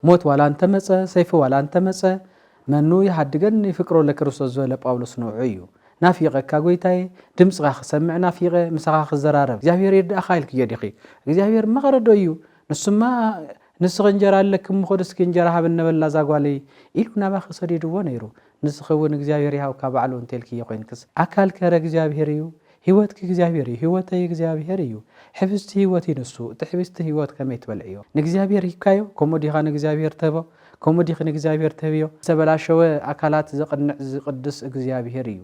ሞት ዋላ እንተ መጸ፣ ሰይፊ ዋላ እንተ መጸ፣ መኑ ይሃድገኒ ፍቅሮ ለክርስቶስ ዝበለ ጳውሎስ ንዑዑ እዩ። ናፊቐካ ጎይታየ፣ ድምጽኻ ክሰምዕ ናፊቐ፣ ምሳኻ ክዘራረብ። እግዚኣብሔር ይርዳእኻ ኢልክዮ ዲኺ? እግዚኣብሔር መቐረዶ እዩ፣ ንሱማ ንስኺ እንጀራ ኣለኪ እሞ ኹዲ እስኪ እንጀራ ሃበኒ ነበላ እዛ ጓለይ ኢሉ ናባኺ ሰዲድዎ ነይሩ። ንስኺ እውን እግዚኣብሔር ይሃብካ ባዕሉ እንተልክዮ ኮይንክስ ኣካል ከረ እግዚኣብሔር እዩ። ህይወትኪ እግዚኣብሔር እዩ ህይወተይ እግዚኣብሔር እዩ ሕብስቲ ህይወት እዩ ንሱ እቲ ሕብስቲ ህይወት ከመይ ትበልዕዮ ንእግዚኣብሔር ሂብካዮ ከምኡ ዲካ ንእግዚኣብሔር ትህቦ ከምኡ ዲኪ ንእግዚኣብሔር ትህብዮ ዝተበላሸወ ኣካላት ዘቅንዕ ዝቅድስ እግዚኣብሔር እዩ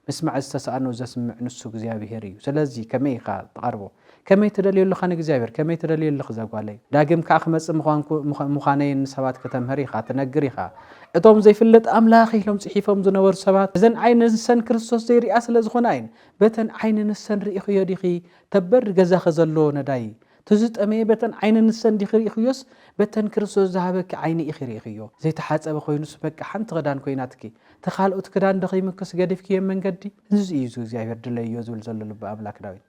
ምስማዕ ዝተሳእኖ ዘስምዕ ንሱ እግዚኣብሔር እዩ ስለዚ ከመይ ኢካ ትቀርቦ ከመይ ትደልዮ ኣለኻ ንእግዚኣብሔር? ከመይ ትደልዮ ኣለኺ እዛ ጓለይ? ዳግም ከኣ ክመጽእ ምዃንኩ ምዃነይን ንሰባት ከተምህር ኢኻ፣ ትነግር ኢኻ። እቶም ዘይፍለጥ ኣምላኽ ኢሎም ጽሒፎም ዝነበሩ ሰባት እዘን ዓይኒ ንሰን ክርስቶስ ዘይርእያ ስለ ዝኾና እየን። በተን ዓይኒ ንሰን ርኢኽዮ ዲኺ ተበሪ ገዛኺ ዘሎ ነዳይ? ትዝጠመየ በተን ዓይኒ ንሰን ዲኺ ርኢኽዮስ በተን ክርስቶስ ዝሃበኪ ዓይኒ ኢኺ ርኢኽዮ? ዘይተሓጸበ ኮይኑስ በቃ ሓንቲ ክዳን ኮይናትኪ እቲ ካልኦት ክዳን ዶ ከይምክስ ገዲፍክዮ መንገዲ? እዙይ እዩ እግዚኣብሔር ድለይዮ ዝብል ዘሎ ልቢ ኣምላክ ዳዊት።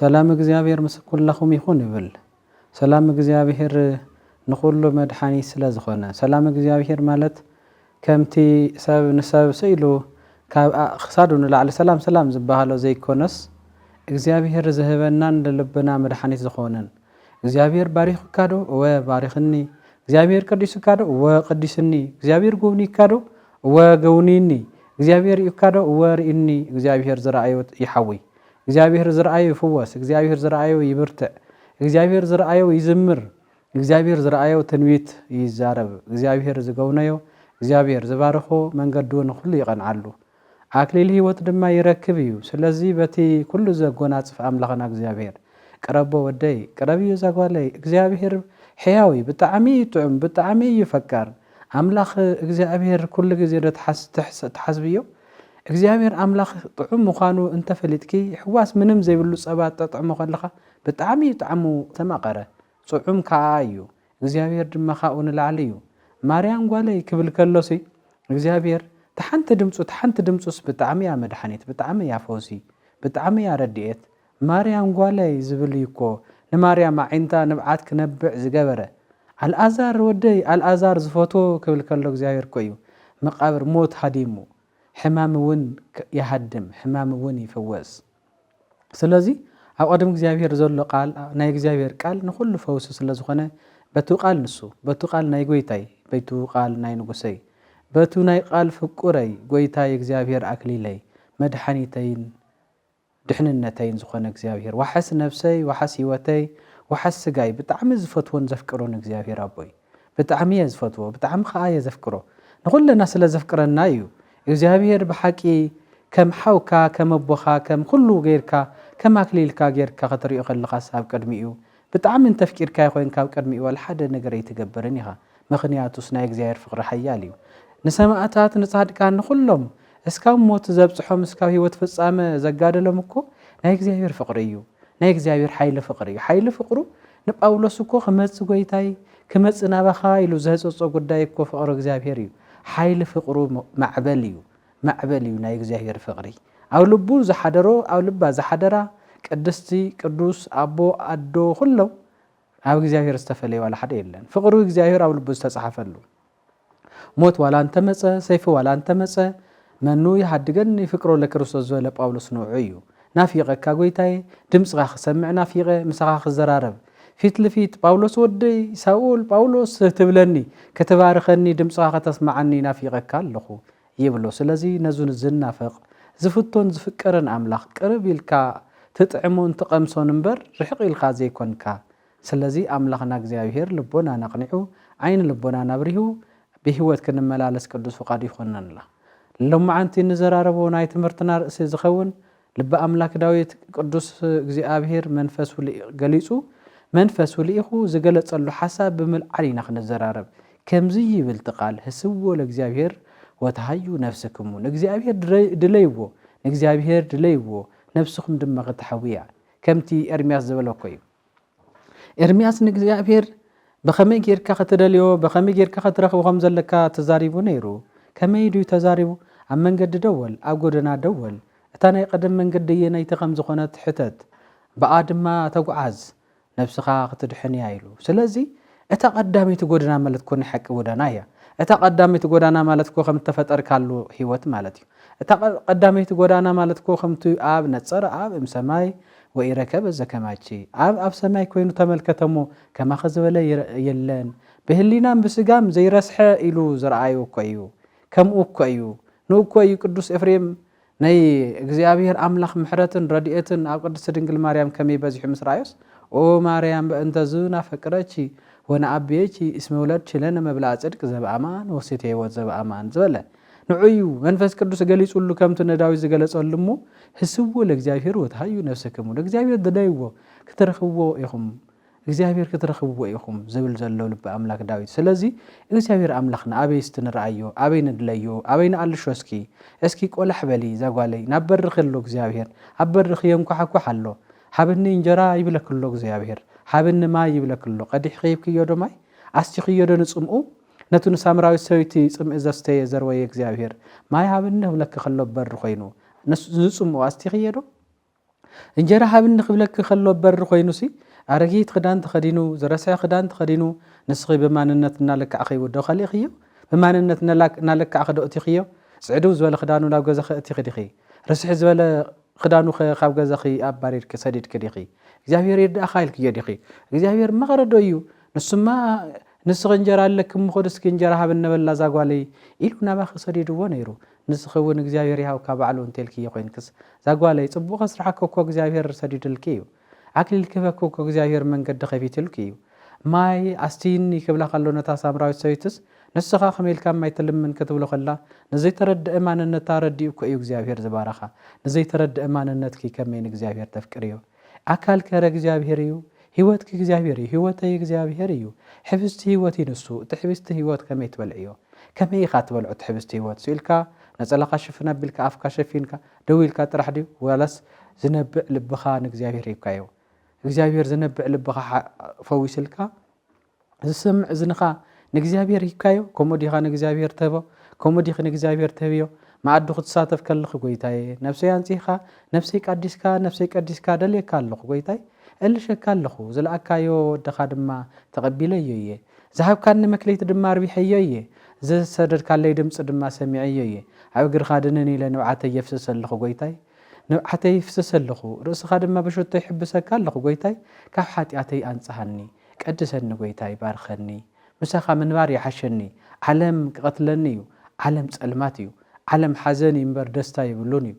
ሰላም እግዚኣብሔር ምስ ኩላኹም ይኹን እብል ሰላም እግዚኣብሔር ንኹሉ መድሓኒት ስለ ዝኾነ ሰላም እግዚኣብሔር ማለት ከምቲ ሰብ ንሰብ ስኢሉ ካብ ክሳዱ ንላዕሊ ሰላም ሰላም ዝበሃሎ ዘይኮነስ እግዚኣብሔር ዝህበናን ልልብና መድሓኒት ዝኾነን እግዚኣብሔር ባሪኹካ ዶ እወ ባርኽኒ እግዚኣብሔር ቀዲሱካ ዶ እወ ቀዲስኒ እግዚኣብሔር ጎብኒካ ዶ እወ ገውኒኒ እግዚኣብሔር ሪኡካ ዶ እወ ሪእኒ እግዚኣብሔር ዝረኣዮ ይሓውይ እግዚኣብሄር ዝረኣዮ ይፍወስ፣ እግዚኣብሄር ዝረኣዮ ይብርትዕ፣ እግዚኣብሄር ዝረኣዮ ይዝምር፣ እግዚኣብሄር ዝረኣዮ ትንቢት ይዛረብ፣ እግዚኣብሄር ዝገውነዮ፣ እግዚኣብሄር ዝባርኾ መንገዱ ንኹሉ ይቐንዓሉ፣ ኣክሊል ህይወት ድማ ይረክብ እዩ፣ ስለዚ በቲ ኩሉ ዘጎናጽፍ ኣምላኽና እግዚኣብሄር ቅረቦ ወደይ፣ ቅረብዮ እዛ ጓለይ፣ እግዚኣብሄር ሕያው እዩ፣ ብጣዕሚ እዩ ጥዑም፣ ብጣዕሚ እዩ ፈቃር፣ ኣምላኽ እግዚኣብሄር ኩሉ ግዜ ዶ ትሓስብዮ? እግዚኣብሄር ኣምላኽ ጥዑም ምዃኑ እንተ ፈሊጥኪ ሕዋስ ምንም ዘይብሉ ጸባ ትጠጥዕሞ ከለኻ ብጣዕሚ እዩ ጣዕሙ ዝተማቐረ ጹዑም ካኣ እዩ እግዚኣብሄር ድማ ካብኡ ንላዕሊ እዩ ማርያም ጓለይ ክብል ከሎሲ እግዚኣብሄር ታሓንቲ ድምጹ ታሓንቲ ድምጹስ ብጣዕሚ እያ መድሓኒት ብጣዕሚ እያ ፈውሲ ብጣዕሚ እያ ረዲኤት ማርያም ጓለይ ዝብል እዩ እኮ ንማርያም ኣዒንታ ንብዓት ክነብዕ ዝገበረ። ኣልኣዛር ወደይ ኣልኣዛር ዝፈትዎ ክብል ከሎ እግዚኣብሔር እኮ እዩ መቃብር ሞት ሃዲሙ። ሕማም እውን ይሃድም ሕማም እውን ይፍወስ። ስለዚ ኣብ ቅድሚ እግዚኣብሔር ዘሎ ቃል ናይ እግዚኣብሔር ቃል ንኩሉ ፈውሲ ስለ ዝኮነ በቱ ቃል ንሱ በቱ ቃል ናይ ጎይታይ በቱ ቃል ናይ ንጉሰይ በቱ ናይ ቃል ፍቁረይ ጎይታይ እግዚኣብሔር ኣክሊለይ መድሓኒተይን ድሕንነተይን ዝኾነ እግዚኣብሄር ዋሕስ ነብሰይ ዋሕስ ሂወተይ ዋሕስ ስጋይ ብጣዕሚ ዝፈትዎን ዘፍቅሮን እግዚኣብሄር ኣቦይ ብጣዕሚ እየ ዝፈትዎ ብጣዕሚ ኸኣ እየ ዘፍቅሮ ንኹልና ስለ ዘፍቅረና እዩ እግዚኣብሄር ብሓቂ ከም ሓውካ ከም ኣቦኻ ከም ኹሉ ጌርካ ከም ኣክሊልካ ጌርካ ክትሪኦ ከለኻስ ኣብ ቅድሚኡ ብጣዕሚ እንተፍቂርካዮ ኮይንካ ኣብ ቅድሚኡ ዋላ ሓደ ነገር ኣይትገብርን ኢኻ ምኽንያቱስ ናይ እግዚኣብሔር ፍቅሪ ሓያል እዩ ንሰማእታት ንጻድቃን ንኹሎም እስካብ ሞት ዘብጽሖም እስካብ ህይወት ፍጻመ ዘጋደሎም እኮ ናይ እግዚኣብሔር ፍቅሪ እዩ ናይ እግዚኣብሔር ሓይሊ ፍቅሪ እዩ ሓይሊ ፍቅሩ ንጳውሎስ እኮ ክመጽ ጎይታይ ክመጽ ናባኻ ኢሉ ዘህጸጾ ጉዳይ እኮ ፍቅሪ እግዚኣብሔር እዩ ሓይሊ ፍቅሩ ማዕበል እዩ ማዕበል እዩ ናይ እግዚኣብሔር ፍቅሪ ኣብ ልቡ ዝሓደሮ ኣብ ልባ ዝሓደራ ቅድስቲ ቅዱስ ኣቦ ኣዶ ኩሎም ኣብ እግዚኣብሔር ዝተፈለየ ዋላ ሓደ የለን ፍቅሪ እግዚኣብሔር ኣብ ልቡ ዝተጻሓፈሉ ሞት ዋላ እንተመጸ ሰይፊ ዋላ እንተመጸ መኑ ይሃድገኒ ፍቅሮ ለክርስቶስ ዝበለ ጳውሎስ ንዑ እዩ ናፊቀካ ጎይታየ ድምጽካ ክሰምዕ ናፊቀ ምሳካ ክዘራረብ ፊት ልፊት ጳውሎስ ወደይ ሳውል ጳውሎስ ትብለኒ ክትባርኸኒ ድምጽካ ከተስማዓኒ ናፊቀካ ኣለኩ ይብሎ ስለዚ ነዚ ዝናፈቅ ዝፍቶን ዝፍቀርን ኣምላክ ቅርብ ኢልካ ትጥዕሞን ትቀምሶን እምበር ርሕቅ ኢልካ ዘይኮንካ ስለዚ ኣምላኽና እግዚኣብሄር ልቦናና ኣቕኒዑ ዓይኒ ልቦናና ኣብሪሁ ብህይወት ክንመላለስ ቅዱስ ፍቓዱ ይኹነንልና። ሎምዓንቲ እንዘራረቦ ናይ ትምህርትና ርእሲ ዝኸውን ልበ ኣምላክ ዳዊት ቅዱስ እግዚኣብሄር መንፈሱ ገሊጹ መንፈሱ ልኢኹ ዝገለጸሉ ሓሳብ ብምልዓል ኢና ክንዘራረብ ከምዚ ይብል እቲ ቃል ህስዎ ለእግዚኣብሄር ወተሃዩ ነፍስክሙ ንእግዚኣብሄር ድለይዎ ንእግዚኣብሄር ድለይዎ ነፍስኹም ድማ ክተሐውያ ከምቲ ኤርምያስ ዝበለኮ እዩ። ኤርምያስ ንእግዚኣብሄር ብኸመይ ጌርካ ኸትደልዮ ብኸመይ ጌርካ ኸትረኽቦ ኸም ዘለካ ተዛሪቡ ነይሩ። ከመይ ድዩ ተዛሪቡ? ኣብ መንገዲ ደወል፣ ኣብ ጎደና ደወል፣ እታ ናይ ቐደም መንገዲ ኣየነይቲ ኸም ዝኾነት ሕተት፣ ብኣ ድማ ተጓዓዝ፣ ነፍስኻ ኽትድሕን እያ ኢሉ። ስለዚ እታ ቀዳመይቲ ጎደና ማለት እኮ ናይ ሓቂ ጎዳና እያ። እታ ቀዳመይቲ ጎዳና ማለት እኮ ከምቲ ተፈጠርካሉ ሕይወት ማለት እዩ። እታ ቀዳመይቲ ጎዳና ማለት እኮ ከምቲ ኣብ ነጸረ ኣብ እም ሰማይ ወኢረከበ ዘከማኪ ኣብ ኣብ ሰማይ ኮይኑ ተመልከተ እሞ ከማኺ ዝበለ የለን ብህሊናን ብስጋም ዘይረስሐ ኢሉ ዝረኣዮ እኮ እዩ ከምኡ እኮ እዩ ንእኮ እዩ ቅዱስ ኤፍሬም ናይ እግዚኣብሔር ኣምላኽ ምሕረትን ረድኤትን ኣብ ቅድስት ድንግል ማርያም ከመይ በዚሑ ምስ ረኣዮስ ኦ ማርያም በእንተዝ ናፈቅረኪ ወነኣቤኪ እስመ ውለድኪ ለነ መብልኣ ጽድቅ ዘበኣማን ወሴተ ሕይወት ዘበኣማን ዝበለ ንዑ እዩ መንፈስ ቅዱስ ገሊጹሉ ከምቲ ንዳዊት ዝገለጸሉ እሞ ህስዎ ለእግዚኣብሔር ወትሃዩ ነፍሰክሙ ለእግዚኣብሔር ድለይዎ ክትረኽብዎ ኢኹም እግዚኣብሔር ክትረኽብዎ ኢኹም ዝብል ዘሎ ልቢ ኣምላክ ዳዊት ስለዚ እግዚኣብሔር ኣምላኽና ኣበይ እስቲ ንርኣዮ ኣበይ ንድለዮ ኣበይ ንኣልሾ እስኪ እስኪ ቆላሕ በሊ ዛጓለይ ናብ በርኺ ኣሎ እግዚኣብሔር ኣብ በርኺ የንኳሓኳሕ ኣሎ ሃብኒ እንጀራ ይብለኪ ኣሎ እግዚኣብሔር ሃብኒ ማይ ይብለኪ ኣሎ ቀዲሕኺ ሂብክዮ ዶ ማይ ኣስቲኽዮ ዶ ንጽምኡ ነቲ ንሳምራዊት ሰበይቲ ጽምኢ ዘስተየ ዘርወየ እግዚኣብሔር ማይ ሃብኒ ክብለኪ ከሎ ኣብ በሪ ኮይኑ ንጽምኡ ኣስቲኽዮ ዶ እንጀራ ሃብኒ ክብለኪ ከሎ በሪ ኮይኑሲ ኣረጊት ክዳን ተኸዲኑ ዝረስሐ ክዳን ተኸዲኑ ንስኺ ብማንነት እናለካዕኺዎ ዶ ከሊእኽዮ ብማንነት እናለካዕኺ ዶ እቲኽዮ ጽዕድው ዝበለ ክዳኑ ናብ ገዛኺ እቲኺ ዲኺ ርስሕ ዝበለ ክዳኑኸ ካብ ገዛኺ ኣባሪርኪ ሰዲድኪ ዲኺ እግዚኣብሔር ይርዳእኻ ኢልክዮ ዲኺ እግዚኣብሔር መቐረዶ እዩ ንሱማ ንስኺ እንጀራ ኣለኪ እሞ ኹዲ እስኪ እንጀራ ሃብኒ በላ እዛ ጓለይ ኢሉ ናባኺ ሰዲድዎ ነይሩ ንስኺ ውን እግዚኣብሄር ይሃብካ ባዕሉ እንተልክዮ ኮይንክስ ዛጓለይ ጽቡቅ ከስርሓኪ እኮ እግዚኣብሄር ሰዲድልኪ እዩ ኣክሊል ክህበኪ እኮ እግዚኣብሄር መንገዲ ከፊትልኪ እዩ ማይ ኣስትይኒ ክብላ ከሎ ነታ ሳምራዊት ሰበይትስ ንስኻ ከመይ ኢልካ ማይ ትልምን ክትብሎ ከላ ንዘይተረደኣ ማንነታ ረዲኡ እኮ እዩ እግዚኣብሄር ዝባረኻ ንዘይተረደኣ ማንነትኪ ከመይ ንእግዚኣብሄር ተፍቅርዮ ኣካል ከረ እግዚኣብሔር እዩ፣ ሕይወትኪ እግዚኣብሔር እዩ፣ ሕይወተይ እግዚኣብሔር እዩ፣ ኅብስቲ ሕይወት እዩ ንሱ፣ እቲ ኅብስቲ ሕይወት ከመይ ትበልዕዮ? ከመይ ኢኻ ትበልዖ እቲ ኅብስቲ ሕይወት? ስኢልካ፣ ነጸላኻ ሽፍን ኣቢልካ፣ ኣፍካ ሸፊንካ፣ ደው ኢልካ ጥራሕ ድዩ? ዋላስ ዝነብዕ ልብኻ ንእግዚኣብሔር ሂብካዮ? እግዚኣብሔር ዝነብዕ ልብኻ ፈዊስልካ? ዝሰምዕ እዝንኻ ንእግዚኣብሔር ሂብካዮ? ከምኡ ዲኻ ንእግዚኣብሔር ትህቦ? ከምኡ ዲኺ ንእግዚኣብሔር ትህብዮ? መኣዱ ክትሳተፍ ከልኺ ጎይታየ፣ ነፍሰይ ኣንጺህካ፣ ነፍሰይ ቃዲስካ፣ ነፍሰይ ቀዲስካ ደልየካ ኣለኹ ጎይታይ፣ እልሸካ ኣለኹ፣ ዝለኣካዮ ወድኻ ድማ ተቐቢለዮ እየ። ዝሃብካኒ መክሊት ድማ ኣርቢሐዮ እየ፣ ዝሰደድካለይ ድምጺ ድማ ሰሚዐዮ እየ። ኣብ እግርኻ ድንን ኢለ ንብዓተይ የፍስስ ኣለኹ ጎይታይ፣ ንብዓተይ ይፍስስ ኣለኹ፣ ርእስኻ ድማ ብሽቶ ይሕብሰካ ኣለኹ ጎይታይ፣ ካብ ሓጢኣተይ ኣንጽሃኒ። ቀድሰኒ ጎይታይ ባርኸኒ ምሳኻ ምንባር ይሓሸኒ ዓለም ክቐትለኒ እዩ ዓለም ጸልማት እዩ ዓለም ሓዘን እዩ እምበር ደስታ የብሉን እዩ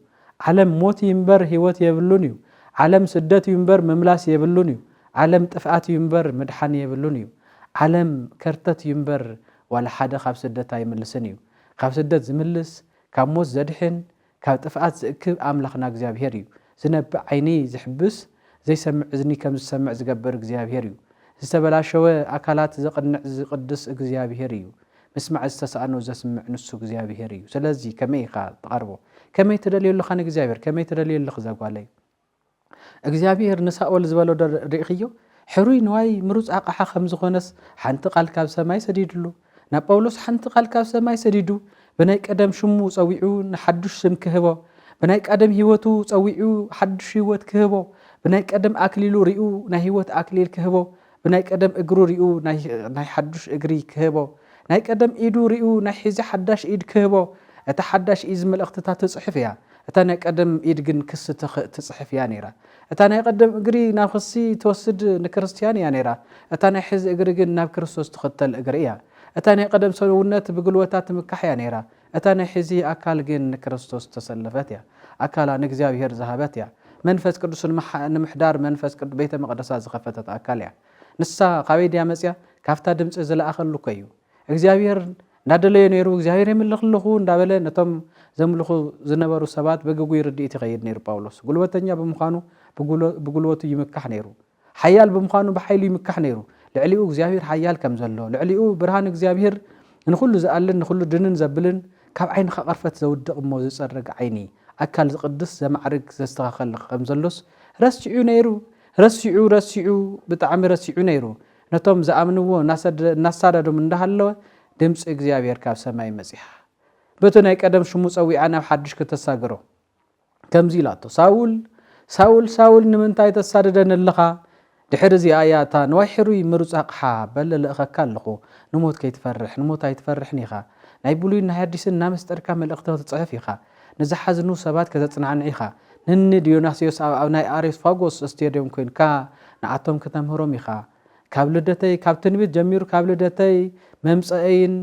ዓለም ሞት እዩ እምበር ህይወት የብሉን እዩ ዓለም ስደት እዩ እምበር ምምላስ የብሉን እዩ ዓለም ጥፍኣት እዩ እምበር ምድሓን የብሉን እዩ ዓለም ከርተት እዩ እምበር ዋላ ሓደ ካብ ስደት ኣይምልስን እዩ ካብ ስደት ዝምልስ ካብ ሞት ዘድሕን ካብ ጥፍኣት ዝእክብ ኣምላኽና እግዚኣብሄር እዩ። ዝነብዕ ዓይኒ ዝሕብስ፣ ዘይሰምዕ እዝኒ ከም ዝሰምዕ ዝገብር እግዚኣብሄር እዩ። ዝተበላሸወ ኣካላት ዘቕንዕ ዝቕድስ እግዚኣብሄር እዩ። ምስማዕ ዝተሳእኖ ዘስምዕ ንሱ እግዚኣብሄር እዩ። ስለዚ ከመይ ኢኻ ትቐርቦ? ከመይ ትደልዮ ኣለኻ ንእግዚኣብሄር? ከመይ ትደልዮ ኣለኺ እዛ ጓለይ? እግዚኣብሄር ንሳኦል ዝበሎዶ ርኢኽዮ? ሕሩይ ንዋይ ምሩጽ ኣቕሓ ኸም ዝዀነስ ሓንቲ ቓል ካብ ሰማይ ሰዲድሉ። ናብ ጳውሎስ ሓንቲ ቓል ካብ ሰማይ ሰዲዱ ብናይ ቀደም ሽሙ ጸዊዑ ንሓዱሽ ስም ክህቦ፣ ብናይ ቃደም ህይወቱ ጸዊዑ ሓዱሽ ህይወት ክህቦ፣ ብናይ ቀደም ኣክሊሉ ሪኡ ናይ ህይወት ኣክሊል ክህቦ ብናይ ቀደም እግሩ ሪኡ ናይ ሓዱሽ እግሪ ክህቦ፣ ናይ ቀደም ኢዱ ሪኡ ናይ ሕዚ ሓዳሽ ኢድ ክህቦ፣ እታ ሓዳሽ ኢዝ መልእኽትታ ትጽሕፍ እያ፣ እታ ናይ ቀደም ኢድ ግን ክሲ ትጽሕፍ እያ ነይራ። እታ ናይ ቀደም እግሪ ናብ ክሲ ትወስድ ንክርስትያን እያ ነይራ፣ እታ ናይ ሕዚ እግሪ ግን ናብ ክርስቶስ ትኽተል እግሪ እያ። እታ ናይ ቀደም ሰውነት ብግልወታ ትምካሕ እያ ነይራ፣ እታ ናይ ሕዚ ኣካል ግን ንክርስቶስ ዝተሰለፈት እያ። ኣካላ ንእግዚኣብሔር ዝሃበት እያ። መንፈስ ቅዱስ ንምሕዳር መንፈስ ቅዱስ ቤተ መቕደሳ ዝኸፈተት ኣካል እያ። ንሳ ካበይ ድያ መጺኣ? ካብታ ድምጺ ዝለኣኸሉ እኮ እዩ። እግዚኣብሔር እንዳደለዮ ነይሩ እግዚኣብሔር የምልኽ ኣለኹ እንዳበለ ነቶም ዘምልኹ ዝነበሩ ሰባት ብግጉይ ርድኢት ይኸይድ ነይሩ ጳውሎስ። ጉልበተኛ ብምዃኑ ብጉልበቱ ይምካሕ ነይሩ። ሓያል ብምዃኑ ብሓይሉ ይምካሕ ነይሩ። ልዕሊኡ እግዚኣብሄር ሓያል ከም ዘሎ፣ ልዕሊኡ ብርሃን እግዚኣብሄር ንኹሉ ዝኣልን ንኹሉ ድንን ዘብልን ካብ ዓይንኻ ቐርፈት ዘውድቕ እሞ ዝጸርግ ዓይኒ፣ ኣካል ዝቕድስ ዘማዕርግ ዘስተኻኸል ኸም ዘሎስ ረሲዑ ነይሩ። ረሲዑ ረሲዑ ብጣዕሚ ረሲዑ ነይሩ። ነቶም ዝኣምንዎ እናሳደዶም እንዳሃለወ ድምጺ እግዚኣብሄር ካብ ሰማይ መጺኣ በቲ ናይ ቀደም ሽሙ ጸዊዓ ናብ ሓድሽ ክተሳግሮ። ከምዚ ኢላቶ፣ ሳውል ሳውል ሳውል ንምንታይ ተሳድደኒ ኣለኻ? ድሕሪ እዚኣ እያ እታ ንዋይ ሕሩይ ምሩጽ ኣቕሓ በለ እልእኸካ ኣለኹ፣ ንሞት ከይትፈርሕ፣ ንሞት ኣይትፈርሕን ኢኻ፣ ናይ ብሉይን ናይ ኣዲስን እናመስጠርካ መልእኽቲ ክትጽሕፍ ኢኻ፣ ንዝሓዝኑ ሰባት ከተጽናዕንዕ ኢኻ፣ ንእኒ ድዮናስዮስ ኣብ ኣብ ናይ ኣሬስፋጎስ እስቴድዮም ኮይንካ ንኣቶም ክተምህሮም ኢኻ፣ ካብ ልደተይ ካብ ትንቢት ጀሚሩ ካብ ልደተይ መምጸእይን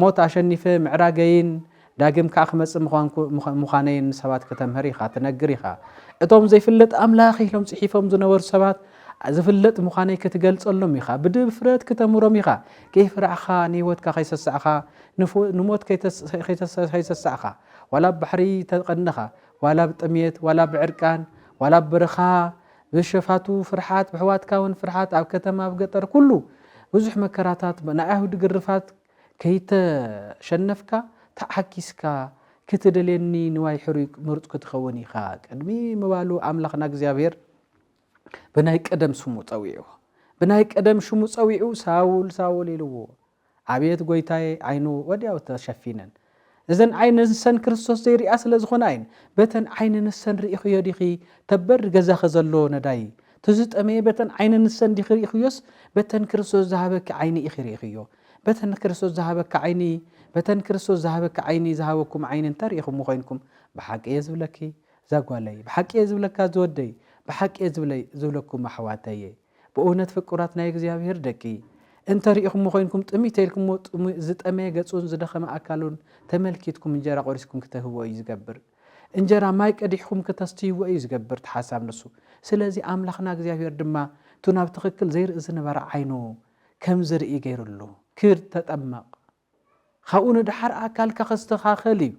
ሞት ኣሸኒፈ ምዕራገይን ዳግም ከኣ ክመጽእ ምዃነይን ንሰባት ከተምህር ኢኻ፣ ትነግር ኢኻ። እቶም ዘይፍለጥ ኣምላኽ ኢሎም ጽሒፎም ዝነበሩ ሰባት ዝፍለጥ ምዃነይ ክትገልጸሎም ኢኻ፣ ብድፍረት ክተምህሮም ኢኻ፣ ከይፈራሕኻ ንህይወትካ ከይሰሳዕኻ ንሞት ከይሰሳዕኻ ዋላ ኣብ ባሕሪ ተቐንኻ ዋላ ኣብ ጥምየት ዋላ ኣብ ዕርቃን ዋላ ኣብ በረኻ ብሸፋቱ ፍርሓት ብሕዋትካውን ፍርሓት ኣብ ከተማ ኣብ ገጠር ኩሉ ብዙሕ መከራታት ናይ ኣይሁድ ግርፋት ከይተሸነፍካ ተዓኪስካ ክትደልየኒ ንዋይ ሕሩይ ምሩጽ ክትኸውን ኢኻ ቅድሚ ምባሉ ኣምላኽና እግዚኣብሔር ብናይ ቀደም ስሙ ጸዊዕዎ ብናይ ቀደም ሽሙ ጸዊዑ ሳውል ሳውል ኢልዎ ኣቤት ጐይታየ ዓይኑ ወዲያው ተሸፊነን እዘን ዓይኒ ንሰን ክርስቶስ ዘይሪኣ ስለ ዝኾና እየን በተን ዓይኒ ንሰን ሪኢኽዮ ዲኺ ተበሪ ገዛኺ ዘሎ ነዳይ ትዝጠመየ በተን ዓይኒ ንሰን ዲኺ ሪኢኽዮስ በተን ክርስቶስ ዝሃበኪ ዓይኒ ኢኺ ሪኢኽዮ በተን ክርስቶስ ዝሃበኪ ዓይኒ በተን ክርስቶስ ዝሃበኪ ዓይኒ ዝሃበኩም ዓይኒ እንተ ሪኢኹም ኮይንኩም ብሓቂ እየ ዝብለኪ ዛጓለይ ብሓቂ እየ ዝብለካ ዝወደይ ብሓቂ እየ ዝብለይ ዝብለኩም ኣሕዋተይ ብእውነት ፍቁራት ናይ እግዚኣብሔር ደቂ እንተ ርኢኹሞ ኮይንኩም ጥምይ ተይልኩሞ ዝጠመየ ገጹን ዝደኸመ ኣካሉን ተመልኪትኩም እንጀራ ቆሪስኩም ክተህብዎ እዩ ዝገብር እንጀራ ማይ ቀዲሕኹም ክተስትይዎ እዩ ዝገብር ትሓሳብ ንሱ ስለዚ ኣምላኽና እግዚኣብሔር ድማ እቱ ናብ ትኽክል ዘይርኢ ዝነበረ ዓይኑ ከም ዝርኢ ገይርሉ ክድ ተጠመቕ ካብኡ ንድሓር ኣካልካ ክስተኻኸል እዩ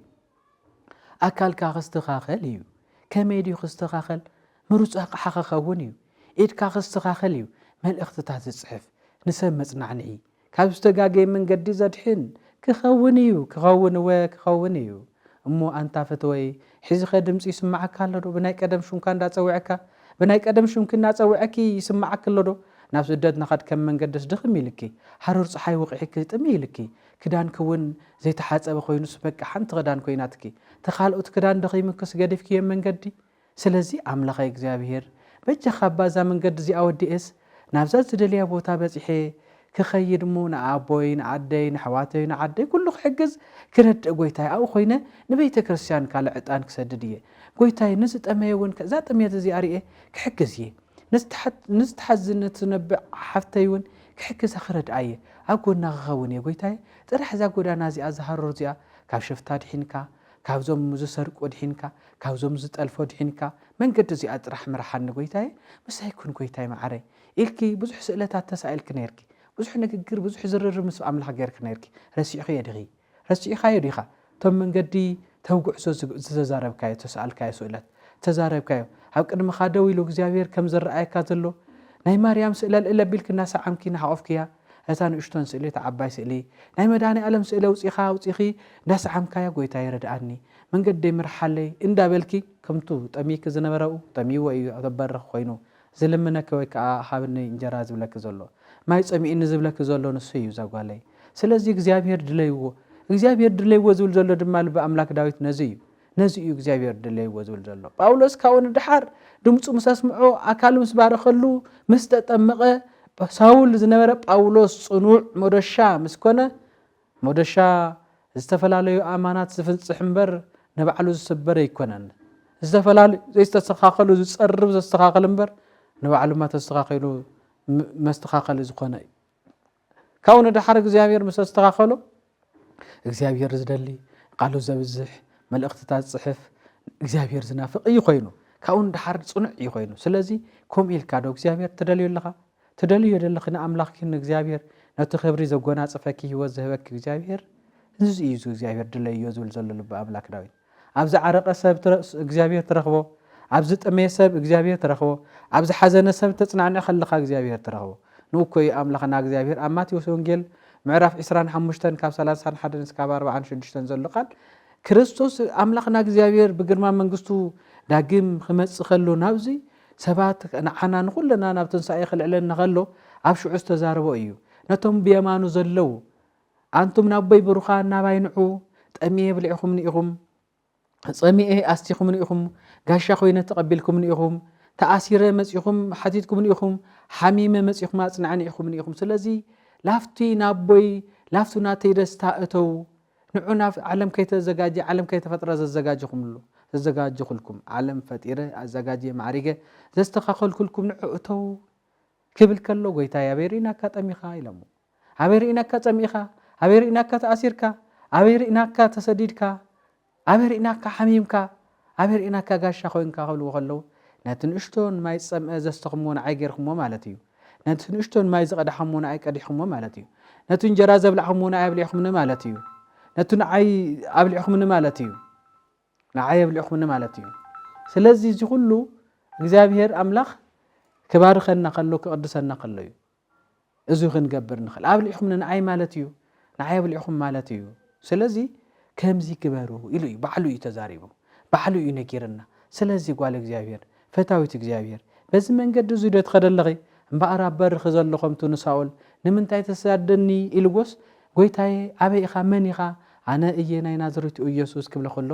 ኣካልካ ክስተኻኸል እዩ ከመይ ድዩ ክስተኻኸል ምሩፅ ኣቕሓ ክኸውን እዩ ኢድካ ክስተኻኸል እዩ መልእኽትታት ዝፅሕፍ ንሰብ መፅናዕንዒ ካብ ዝተጋገየ መንገዲ ዘድሕን ክኸውን እዩ ክኸውን እወ ክኸውን እዩ እሞ ኣንታ ፈተወይ ሕዚኸ ድምፂ ይስመዓካ ኣሎዶ ብናይ ቀደም ሹምካ እንዳፀወዐካ ብናይ ቀደም ሹምኪ እናፀወዐኪ ይስመዓኪ ኣሎዶ ናብ ስደት ንኸድ ከም መንገድስ ድኽም ኢልኪ ሃሩር ፀሓይ ወቂሕኪ ጥምይ ኢልኪ ክዳንኪ እውን ዘይተሓፀበ ኮይኑስ በቃ ሓንቲ ክዳን ኮይናትኪ ተኻልኦት ክዳን ደኺሙክስ ገዲፍክዬም መንገዲ ስለዚ ኣምላኸይ እግዚኣብሄር በጃኻ እባ እዛ መንገዲ እዚኣ ወዲኤስ ናብዛ ዝደልያ ቦታ በጺሐ ክኸይድ እሞ ንኣቦይ ንኣደይ ነሕዋተይ ንዓደይ ኩሉ ክሕግዝ ክረድእ ጎይታይ ኣብኡ ኮይነ ንቤተክርስትያን ካልእ ዕጣን ክሰድድ እየ ጎይታይ ንዝጠመየ እውን ከእዛ ጥምየት እዚኣ ርኤ ክሕግዝ እየ ንዝተሓዝን ንትነብዕ ሓፍተይ እውን ክሕግዛ ክረድኣ እየ ኣብ ጎና ክኸውን እየ ጎይታይ ጥራሕ እዛ ጎዳና እዚኣ ዝሃሩር እዚኣ ካብ ሽፍታ ኣድሒንካ ካብዞም ዝሰርቁ ኣድሒንካ ካብዞም ዝጠልፉ ኣድሒንካ መንገዲ እዚኣ ጥራሕ ምርሓኒ ጎይታየ ምሳይ ኩን ጎይታይ መዓረይ ኢልኪ ብዙሕ ስእለታት ተሳኢልኪ ነይርኪ ብዙሕ ንግግር ብዙሕ ዝርርብ ምስ ኣምላኽ ገይርኪ ነይርኪ ረሲዕኽዮ ዲኺ ረሲዕኻዮ ዲኻ እቶም መንገዲ ተብ ጉዕዞ ዝተዛረብካዮ ዝተሳኣልካዮ ስእለት ዝተዛረብካዮ ኣብ ቅድምኻ ደው ኢሉ እግዚኣብሄር ከም ዝረኣየካ ዘሎ ናይ ማርያም ስእለ ልእል ኣቢልኪ እናሰዓምኪ እናሓቖፍክያ ነታ ንእሽቶን ስእሊ እታ ዓባይ ስእሊ ናይ መድሃኒኣለም ስእሊ ኣውጺኻ ኣውጺኺ እንዳሰዓምካያ ጎይታየ ርድኣኒ መንገደይ ምርሓለይ እንዳበልኪ ከምቱ ጠምይኪ ዝነበረኡ ጠምይዎ እዩ ኣብ በርኽ ኮይኑ ዝልምነኪ ወይ ከኣ ሃብኒ እንጀራ ዝብለኪ ዘሎ ማይ ጸሚእኒ ዝብለኪ ዘሎ ንሱ እዩ ዛጓለይ ስለዚ እግዚኣብሄር ድለይዎ እግዚኣብሄር ድለይዎ ዝብል ዘሎ ድማ ልቢ ኣምላክ ዳዊት ነዚ እዩ ነዚ እዩ እግዚኣብሔር ድለይዎ ዝብል ዘሎ። ጳውሎስ ካብኡ ንደሓር ድምፁ ምስ ኣስምዖ ኣካሉ ምስ ባረኸሉ ምስ ተጠመቐ ሳውል ዝነበረ ጳውሎስ ጽኑዕ ሞደሻ ምስ ኮነ ሞደሻ ዝተፈላለዩ ኣማናት ዝፍንጽሕ እምበር ንባዕሉ ዝስበር ኣይኮነን። ዝተፈላለዩ ዘይስተሰኻኸሉ ዝጸርብ ዘስተኻኸል እምበር ንባዕሉ ማተስተኻኺሉ መስተኻኸሊ ዝኾነ እዩ። ካብኡ ንደሓር እግዚኣብሔር ምስ ኣስተኻኸሎ እግዚኣብሔር ዝደሊ ቃሉ ዘብዝሕ መልእኽትታት ዝፅሕፍ እግዚኣብሔር ዝናፍቕ እዩ ኮይኑ ካብኡ ንደሓር ፅኑዕ እዩ ኮይኑ ስለዚ ከምኡ ኢልካ ዶ እግዚኣብሔር ትደልዩ ኣለኻ ትደልዩ የደለኺ ንኣምላኽኪ ንእግዚኣብሔር ነቲ ክብሪ ዘጎናፅፈኪ ህይወት ዝህበኪ እግዚኣብሔር እዚ እዩ እግዚኣብሔር ድለዮ ዝብል ዘሎ ልቢ ኣምላክ ዳዊት ኣብ ዝዓረቐ ሰብ እግዚኣብሄር ትረኽቦ፣ ኣብ ዝጠመየ ሰብ እግዚኣብሄር ትረኽቦ፣ ኣብ ዝሓዘነ ሰብ እተጽናንዕ ከለኻ እግዚኣብሄር ትረኽቦ። ንኡ እኮ እዩ ኣምላኽና እግዚኣብሄር ኣብ ማቴዎስ ወንጌል ምዕራፍ ዕስራን ሓሙሽተን ካብ ሰላሳን ሓደን እስካብ ኣርብዓን ሽዱሽተን ዘሎ ቃል ክርስቶስ ኣምላኽና እግዚኣብሄር ብግርማ መንግስቱ ዳግም ክመጽእ ከሎ ናብዚ ሰባት ንዓና ንኹልና ናብ ትንሳኤ ክልዕለና ከሎ ኣብ ሽዑ ዝተዛረቦ እዩ። ነቶም ብየማኑ ዘለው ኣንቱም ናቦይ ብሩኻን ናባይ ንዑ ጠሚኤ ብሊዕኹምኒ ኢኹም ጸሚኤ ኣስቲኹምኒ ኢኹም ጋሻ ኮይነ ተቐቢልኩምኒ ኢኹም ተኣሲረ መጺኹም ሓቲትኩምኒ ኢኹም ሓሚመ መጺኹም ኣጽናዕኒ ኢኹምኒ ኢኹም ስለዚ ላፍቲ ናቦይ ላፍቱ ናተይ ደስታ እተው ንዑ ናብ ዓለም ከይተዘጋጀ ዓለም ከይተፈጥረ ዘዘጋጀኹምሉ ዘዘጋጀኹልኩም ዓለም ፈጢረ ኣዘጋጀ ማዕሪገ ዘስተኻኸልኩልኩም ንዑ እተው ክብል ከሎ ጎይታይ ኣበይ ርኢናካ ጠሚኻ ኢሎሞ ኣበይ ርኢናካ ጸሚእኻ ኣበይ ርኢናካ ተኣሲርካ ኣበይ ርኢናካ ተሰዲድካ ኣበይ ርኢናካ ሓሚምካ ኣበይ ርኢናካ ጋሻ ኮይንካ ክብልዎ ከለዉ ነቲ ንእሽቶን ማይ ዝጸምአ ዘስተኹምዎ ንዓይ ጌርኩሞ ማለት እዩ ነቲ ንእሽቶን ማይ ዝቐዳሕሞ ንዓይ ቀዲሕኩሞ ማለት እዩ ነቲ እንጀራ ዘብላዕኹምዎ ንዓይ ኣብሊዕኹምኒ ማለት እዩ ነቲ ንዓይ ኣብሊዕኹምኒ ማለት እዩ ንዓይ የብልዕኹምኒ ማለት እዩ ስለዚ እዚ ኩሉ እግዚኣብሄር ኣምላኽ ክባርኸና ከሎ ክቕድሰና ከሎ እዩ እዚ ክንገብር ንኽእል ኣብልዕኹምኒ ንዓይ ማለት እዩ ንዓይ ኣብልዕኹም ማለት እዩ ስለዚ ከምዚ ግበሩ ኢሉ እዩ ባዕሉ እዩ ተዛሪቡ ባዕሉ እዩ ነጊርና ስለዚ ጓል እግዚኣብሄር ፈታዊት እግዚኣብሄር፣ በዚ መንገዲ እዙይ ዶ ትኸዲ ኣለኺ? እምበኣር ኣብ በርኺ ዘሎ ኸምቱ ንሳኦል፣ ንምንታይ ትሰድደኒ? ኢልዎስ፣ ጐይታየ፣ ኣበይ ኢኻ? መን ኢኻ? ኣነ እየ ናይ ናዝሬቱ ኢየሱስ ክብሎ ኸሎ፣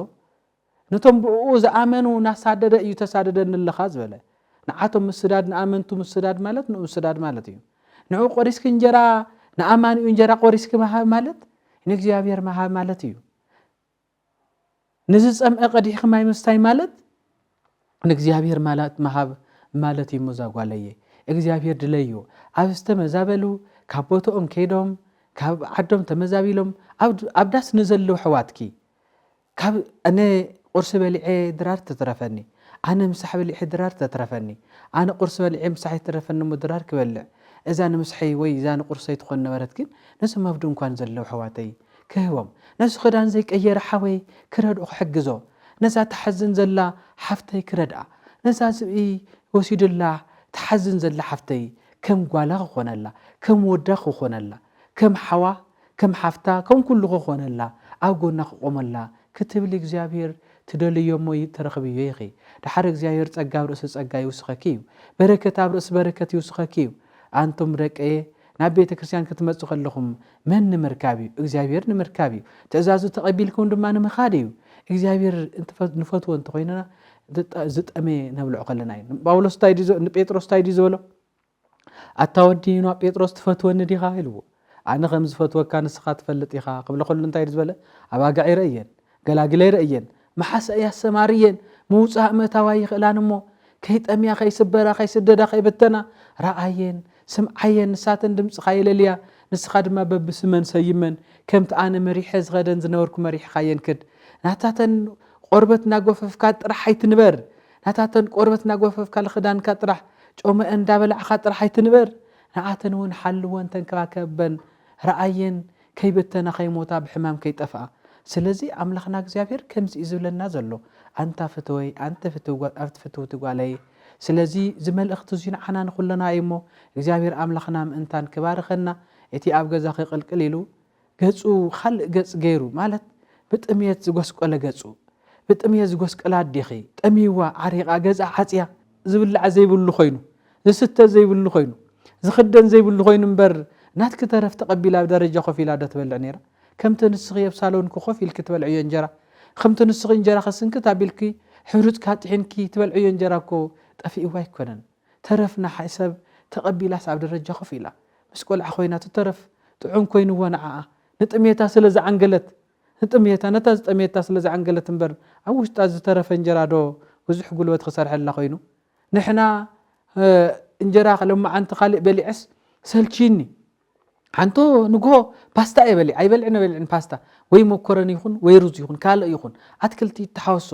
ነቶም ብእኡ ዝኣመኑ እናሳደደ እዩ ተሳድደኒ ኣለኻ ዝበለ። ንዓቶም ምስዳድ ንኣመንቱ ምስዳድ ማለት ንኡ ምስዳድ ማለት እዩ። ንኡ ቆሪስኪ እንጀራ ንኣማኒኡ እንጀራ ቆሪስኪ ምሃብ ማለት ንእግዚኣብሔር ምሃብ ማለት እዩ። ንዝጸምኤ ቀዲሕኺ ማይ ምስታይ ማለት ንእግዚኣብሔር ማላት ምሃብ ማለት እዩሞ ዛጓለየ እግዚኣብሔር ድለዩ ኣብ ዝተመዛበሉ ካብ ቦትኦም ከይዶም ካብ ዓዶም ተመዛቢሎም ኣብ ዳስ ንዘለዉ ሕዋትኪ ካብ ኣነ ቁርሲ በሊዐ ድራር ትትረፈኒ ኣነ ምሳሕ በሊዐ ድራር ተትረፈኒ ኣነ ቁርሲ በሊዐ ምሳሕ ይትረፈኒ እሞ ድራር ክበልዕ እዛ ንምስሐይ ወይ እዛ ንቁርሰይ ትኾን ነበረት ግን ነዞም ኣብ ድንኳን ዘለዉ ሕዋተይ ክህቦም ነዚ ክዳን ዘይቀየረ ሓወይ ክረድኦ ክሕግዞ ነዛ ትሓዝን ዘላ ሓፍተይ ክረድኣ ነዛ ዝብኢ ወሲዱላ ትሓዝን ዘላ ሓፍተይ ከም ጓላ ክኾነላ ከም ወዳ ክኾነላ ከም ሓዋ ከም ሓፍታ ከም ኩሉ ክኾነላ ኣብ ጎና ክቆመላ ክትብሊ እግዚኣብሄር ትደልዮሞ ትረኽብዮ ኢኺ ደሓር እግዚኣብሄር ጸጋ ኣብ ርእሲ ጸጋ ይውስኸኪ እዩ በረከት ኣብ ርእሲ በረከት ይውስኸኪ እዩ ኣንቱም ደቀየ ናብ ቤተ ክርስቲያን ክትመጹ ከለኹም መን ንምርካብ እዩ? እግዚኣብሔር ንምርካብ እዩ። ትእዛዙ ተቐቢልኩም ድማ ንምኻድ እዩ። እግዚኣብሔር ንፈትዎ እንተኾይንና ዝጠመየ ነብልዑ ከለና እዩ። ጳውሎስ ንጴጥሮስ እንታይ ድዩ ዝበሎ? ኣታ ወዲ ዩና ጴጥሮስ ትፈትወኒ ዲኻ ኢልዎ። ኣነ ከም ዝፈትወካ ንስኻ ትፈልጥ ኢኻ ክብለ ከሉ እንታይ ዝበለ? ኣባጋዒረ እየን ገላግለይ ረእየን መሓሰ እያ ሰማርየን ምውጻእ ምእታው ኣይኽእላን እሞ ከይጠምያ ከይስበራ ከይስደዳ ከይብተና ረኣየን ስምዓየን ንሳተን ድምጽኻ የለልያ ንስኻ ድማ በብስመን ሰይመን ከምቲ ኣነ መሪሐ ዝኸደን ዝነበርኩ መሪሕኻየን ክድ ናታተን ቆርበት ናጎፈፍካ ጥራሕ ኣይትንበር ናታተን ቆርበት ናጎፈፍካ ልኽዳንካ ጥራሕ ጮመኤን እንዳበላዕኻ ጥራሕ ኣይትንበር ንኣተን እውን ሓልወን ተንከባከበን ረኣየን ከይበተና ከይሞታ ብሕማም ከይጠፍኣ ስለዚ ኣምላኽና እግዚኣብሄር ከምዚ እዩ ዝብለና ዘሎ ኣንታ ፍትወይ ኣንቲ ፍትውቲ ጓለይ ስለዚ እዚ መልእኽቲ እዙይ ንዓና ንኹልና እዩ እሞ እግዚኣብሄር ኣምላኽና ምእንታን ክባርኸና እቲ ኣብ ገዛኺ ቅልቅል ኢሉ ገጹ ኻልእ ገጽ ገይሩ ማለት ብጥምየት ዝጎስቆለ ገጹ ብጥምየት ዝጎስቀላ ኣዴኺ ጠምይዋ ዓሪቓ ገዝኣ ዓጽያ ዝብላዕ ዘይብሉ ኮይኑ ዝስተ ዘይብሉ ኮይኑ ዝኽደን ዘይብሉ ኮይኑ እምበር ናትኪ ተረፍ ተቐቢላ ኣብ ደረጃ ኮፍ ኢላ ዶ ትበልዕ ነይራ ከምቲ ንስኺ ኣብ ሳሎንኪ ኮፍ ኢልኪ ትበልዕዮ እንጀራ ከምቲ ንስኺ እንጀራኺ ስንክት ኣቢልኪ ሕሩጭካ ጥሒንኪ ትበልዕዮ እንጀራ እኮ ጠፊእዋ ኣይኮነን ተረፍ ንሓ ሰብ ተቐቢላስ ኣብ ደረጃ ኮፍ ኢላ ምስ ቆልዓ ኮይና እቲ ተረፍ ጥዑም ኮይንዎ ንዓኣ ንጥሜታ ስለ ዝዓንገለት ንጥምየታ ነታ ዝጠመየታ ስለ ዝዓንገለት እምበር ኣብ ውሽጣ ዝተረፈ እንጀራ ዶ ብዙሕ ጉልበት ክሰርሐላ ኮይኑ ንሕና እንጀራ ሎማዓንቲ ካሊእ በሊዐስ ሰልቺኒ ሓንቶ ንግሆ ፓስታ እየ በሊዕ ኣይበልዕን በልዕን ፓስታ ወይ መኮረኒ ይኹን ወይ ሩዝ ይኹን ካልእ ይኹን ኣትክልቲ ይተሓወሶ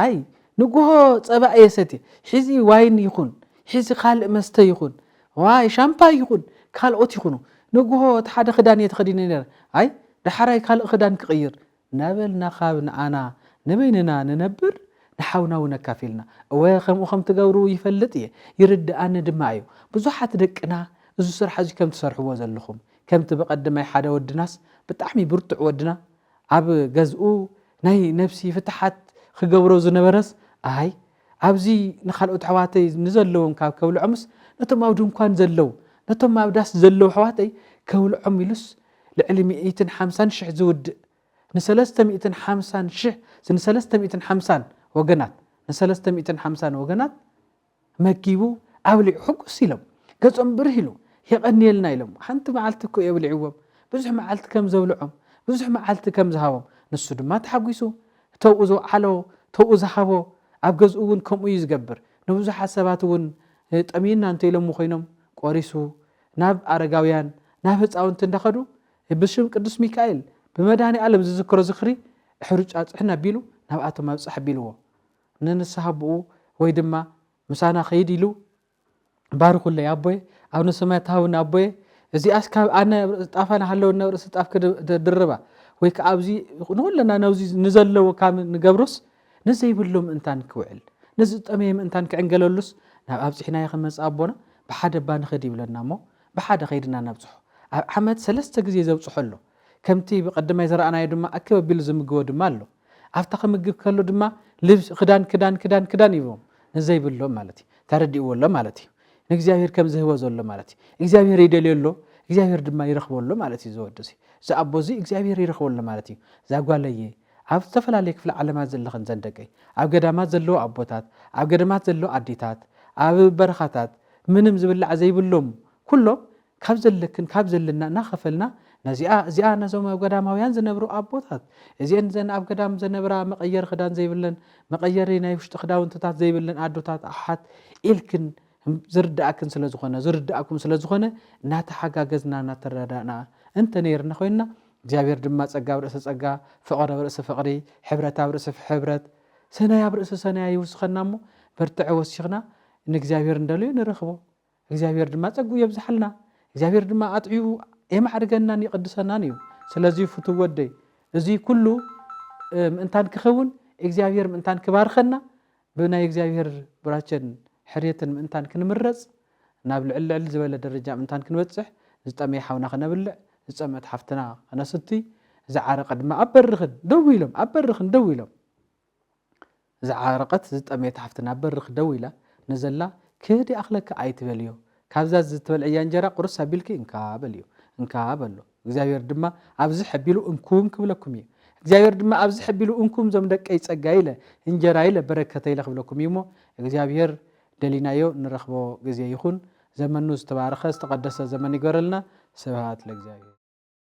ኣይ ንግሆ ፀባ እየ ሰትየ ሒዚ ዋይን ይኹን ሒዚ ካልእ መስተ ይኹን ዋይ ሻምፓይ ይኹን ካልኦት ይኹኑ ንጉሆ እቲ ሓደ ክዳን እየ ተኸዲነ ነይረ ኣይ ዳሓራይ ካልእ ክዳን ክቕይር ናበልና ካብ ንኣና ንበይንና ንነብር ንሓውና እውን ኣካፊልና እወ ከምኡ ከም ትገብሩ ይፈልጥ እየ ይርድኣኒ ድማ እዩ ብዙሓት ደቅና እዚ ስራሕ እዚ ከም ትሰርሕዎ ዘለኹም ከምቲ በቐደማይ ሓደ ወድናስ ብጣዕሚ ብርቱዕ ወድና ኣብ ገዝኡ ናይ ነብሲ ፍትሓት ክገብሮ ዝነበረስ ኣይ ኣብዚ ንካልኦት ኣሕዋተይ ንዘለዎም ካብ ከብልዖምስ ነቶም ኣብ ድንኳን ዘለዉ ነቶም ኣብ ዳስ ዘለዉ ኣሕዋተይ ከብልዖም ኢሉስ ልዕሊ ሚእትን ሓምሳን ሽሕ ዝውድእ ንሰለስተ ሚእትን ሓምሳን ሽሕ ንሰለስተ ሚእትን ሓምሳን ወገናት ንሰለስተ ሚእትን ሓምሳን ወገናት መጊቡ ኣብሊዑ ሕጉስ ኢሎም ገጾም ብርህ ኢሉ የቐንየልና ኢሎም ሓንቲ መዓልቲ እኮ የብሊዕዎም ብዙሕ መዓልቲ ከም ዘብልዖም ብዙሕ መዓልቲ ከም ዝሃቦም ንሱ ድማ ተሓጒሱ እተውኡ ዘውዓሎ ተውኡ ዝሃቦ ኣብ ገዝኡ እውን ከምኡ እዩ ዝገብር። ንብዙሓት ሰባት እውን ጠምዩና እንተ ኢሎሞ ኮይኖም ቆሪሱ ናብ ኣረጋውያን ናብ ህፃውንቲ እንዳኸዱ ብሽም ቅዱስ ሚካኤል ብመድኃኒዓለም ዝዝክሮ ዝኽሪ ሕሩጫ ፅሕን ኣቢሉ ናብኣቶም ኣብፅሕ ኣቢልዎ ንንስሓ ኣቦኡ ወይ ድማ ምሳና ኸይድ ኢሉ ባርኹለይ ኣቦየ ኣብነ ሰማያት ትሃቡኒ ኣቦየ እዚኣስ ካብ ኣነ ጣፋ ናሃለወኒ ኣብ ርእሲ ጣፍ ክድርባ ወይ ከዓ ኣብዚ ንኹለና ነዚ ንዘለዎ ካብ ንገብሮስ ንዘይብሎ ምእንታን ክውዕል ነዚ ዝጠመየ ምእንታን ክዕንገለሉስ ናብ ኣብፅሒናዮ ክንመፅእ ኣቦና ብሓደ እባ ንኸድ ይብለና እሞ ብሓደ ከይድና ነብፅሖ ኣብ ዓመት ሰለስተ ግዜ ዘብፅሖ ኣሎ ከምቲ ብቐደማይ ዝረኣናዮ ድማ ኣክብ ኣቢሉ ዝምግቦ ድማ ኣሎ። ኣብታ ክምግብ ከሎ ድማ ልብስ ክዳን ክዳን ክዳን ክዳን ይህቦም ንዘይብሎም ማለት እዩ። ተረዲእዎ ኣሎ ማለት እዩ። ንእግዚኣብሔር ከም ዝህቦ ዘሎ ማለት እዩ። እግዚኣብሔር ይደልዮ ኣሎ፣ እግዚኣብሔር ድማ ይረኽቦ ኣሎ ማለት እዩ። ዝወዲ እዚ ኣቦ እዚ እግዚኣብሔር ይረኽቦ ኣሎ ማለት እዩ። እዛ ጓለየ ኣብ ዝተፈላለዩ ክፍለ ዓለማት ዘለኽን ዘን ደቀይ ኣብ ገዳማት ዘለዉ ኣቦታት፣ ኣብ ገዳማት ዘለዉ ኣዴታት፣ ኣብ በረኻታት ምንም ዝብላዕ ዘይብሎም ኩሎም ካብ ዘለክን ካብ ዘለና እናኸፈልና ነዚኣ እዚኣ ነዞም ኣብ ገዳማውያን ዝነብሩ ኣቦታት እዚኤን ዘን ኣብ ገዳም ዘነብራ መቐየሪ ክዳን ዘይብለን መቐየሪ ናይ ውሽጢ ክዳውንትታት ዘይብለን ኣዶታት ኣሓት ኢልክን ዝርዳእክን ስለ ዝኾነ ዝርዳእኩም ስለ ዝኾነ እናተሓጋገዝና እናተረዳእና እንተ ነይርና ኮይንና እግዚኣብሔር ድማ ጸጋ ኣብ ርእሲ ጸጋ ፍቕሪ ኣብ ርእሲ ፍቕሪ ሕብረት ኣብ ርእሲ ሕብረት ሰናይ ኣብ ርእሲ ሰናያ ይውስኸና እሞ በርትዐ ወሲኽና ንእግዚኣብሔር እንደልዩ ንረኽቦ እግዚኣብሔር ድማ ጸግኡ የብዝሓልና እግዚኣብሔር ድማ ኣጥዕዩ የማዕርገናን ይቅድሰናን እዩ ስለዚ ፍቱው ወደይ እዚ ኩሉ ምእንታን ክኸውን እግዚኣብሔር ምእንታን ክባርኸና ብናይ እግዚኣብሔር ብራቸን ሕርየትን ምእንታን ክንምረጽ ናብ ልዕል ልዕል ዝበለ ደረጃ ምእንታን ክንበጽሕ ዝጠመየ ሓውና ክነብልዕ ዝጸምት ሓፍትና ክነስቲ ዝዓረቀ ድማ ኣብ በርኽን ደው ኢሎም ኣብ በርኽን ደው ኢሎም ዝዓረቐት ዝጠመየት ሓፍትና ኣብ በርኽ ደው ኢላ ንዘላ ክህዲ ኣኽለኪ ኣይትበልዮ ካብዛ ዝትበልዕያ እንጀራ ቁርስ ኣቢልኪ እንካ በልዮ እንካ በሎ እግዚኣብሔር ድማ ኣብዚ ሐቢሉ እንኩም ክብለኩም እዩ እግዚኣብሔር ድማ ኣብዚ ሐቢሉ እንኩም ዞም ደቀይ ጸጋይ ኢለ እንጀራይ ኢለ በረከተይ ኢለ ክብለኩም እዩ እሞ እግዚኣብሔር ደሊናዮ ንረኽቦ ግዜ ይኹን ዘመኑ ዝተባረኸ ዝተቐደሰ ዘመን ይገረልና ስብሃት ለእግዚኣብሔር